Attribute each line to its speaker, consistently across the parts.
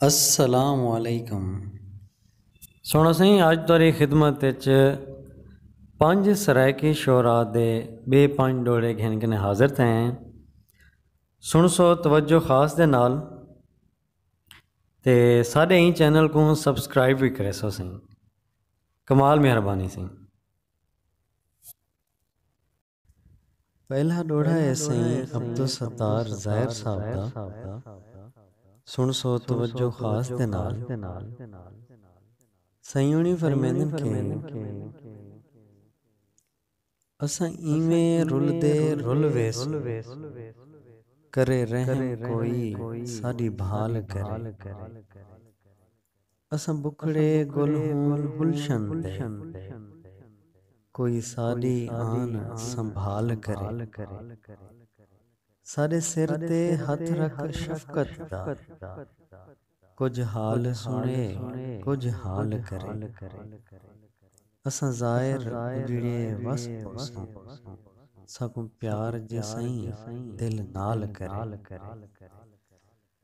Speaker 1: السلام علیکم سونا سائیں اج تاری خدمت وچ پنج سرائیکی شعرا دے بے پنج ڈوڑے گھن کنے حاضر تھے ہیں سن سو توجہ خاص دے نال تے ساڈے ہی چینل کو سبسکرائب بھی کرے سو سائیں کمال مہربانی سائیں پہلا ݙوہڑا ہے سئیں عبدالستار ظاہر صاحب دا سݨ سو توجہ خاص دے نال۔ سئیں ہوݨی فرمیندن کہ اساں ایویں رلدے رل ویسوں کرے رحم کوئی ساݙی بھال کرے۔ اساں بکھڑے گل ہوں گلشن دے۔ کوئی ساݙی آن سنبھال کرے۔ ساݙے سر تے ہتھ رکھ شفقت دا۔ کجھ حال سݨے کجھ حال کرے۔ اساں زائر اجڑے وس پوسوں۔ ساکوں پیار جے سئیں دل نال کرے۔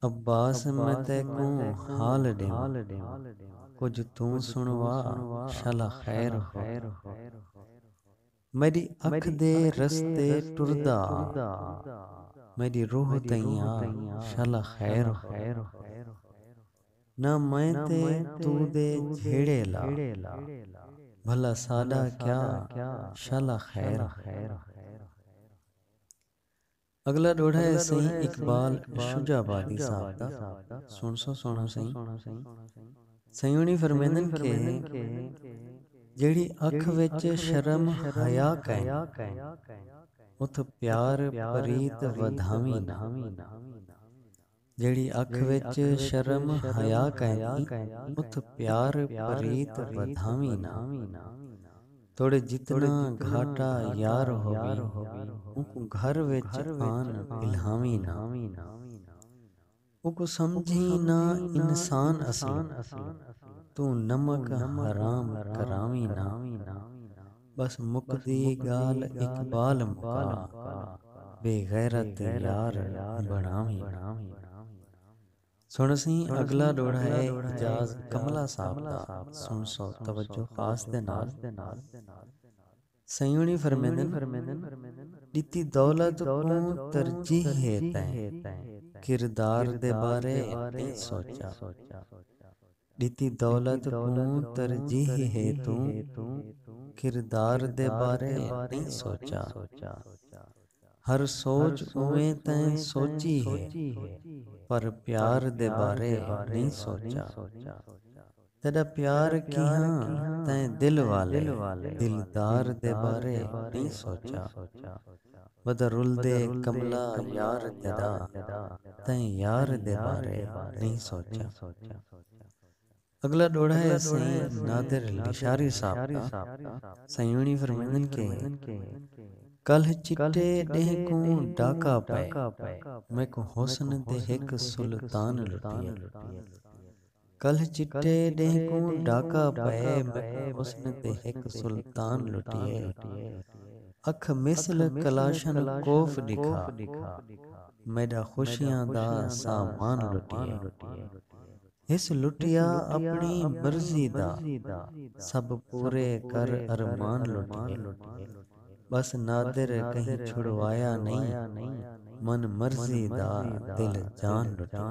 Speaker 1: عباس میں تیکوں حال ڈیواں کجھ توں سنوا شالا خیر ہو میڈی اکھ دے رستے ٹردا میڈی روح تئیاں شالا خیر ہو نہ میں تے تو دے جھیڑے لا بھلا ساڈا کیا شالا خیر ہو۔ اگلا ڈوہڑا ہے سئیں اقبال شجاع آبادی صاحب دا سن سو سوہنڑا سئیں سئیں ہونی فرمیندن کہ جیڑھی اکھ وچ شرم حیا کائن اتھ پیار پریت ودھاویں نہ جیڑھی اکھ وچ شرم حیا کائنی ات پیار پریت ودھاویں نا توڑے جتنا گھاٹا یار ہووی اونکوں گھر وچ آن الہاویں نا اونکوں سمجھیں نا انسان اصلوں توں نمک حرام کراویں نا۔ بس مکدی گالھ اقبال مکا بے غیرت دے یار بنڑاویں۔ سنڑسیں اگلا ڈوہڑا ہے اعجاز کملا صاحب دا سنڑسو توجہ خاص دے نال سیوݨی فرمیندن ݙتی دولت کوں ترجیح ہے تیں کردار دے بارے نئیں سوچا۔ ݙتی دولت کوں ترجیح ہے توں کردار دے بارے نئیں سوچا ہر سوچ اوویں تیں سوچی ہے پر پیار دے بارے نئیں سوچا تیݙا پیار کیہاں تیں دل والے دلدار دے بارے نئیں سوچا۔ ودا رلدے کملا یار جدا تئیں یار دے بارے نئیں سوچیا اگلا ڈوہڑا ہے سئیں نادر لشاری صاحب دا سئیں اونی فرمیندن کہ کلھ چٹے ڈینہہ کوں ڈاکا پئے میکوں حسن دے ہک سلطان لٹیے۔ کلھ چٹے ݙینہہ کوں ݙاکا پئے میکوں حسن تے ہک سلطان لٹیے اکھ مثل کلاشن کوف ݙکھا میݙا خوشیاں دا سامان لٹیے ہس لٹیا اپݨی مرضی دا سب پورے کر ارمان لٹیے ٻس نادر کہیں چھڑوایا نئیں من مرضی دا دل جان لٹیے۔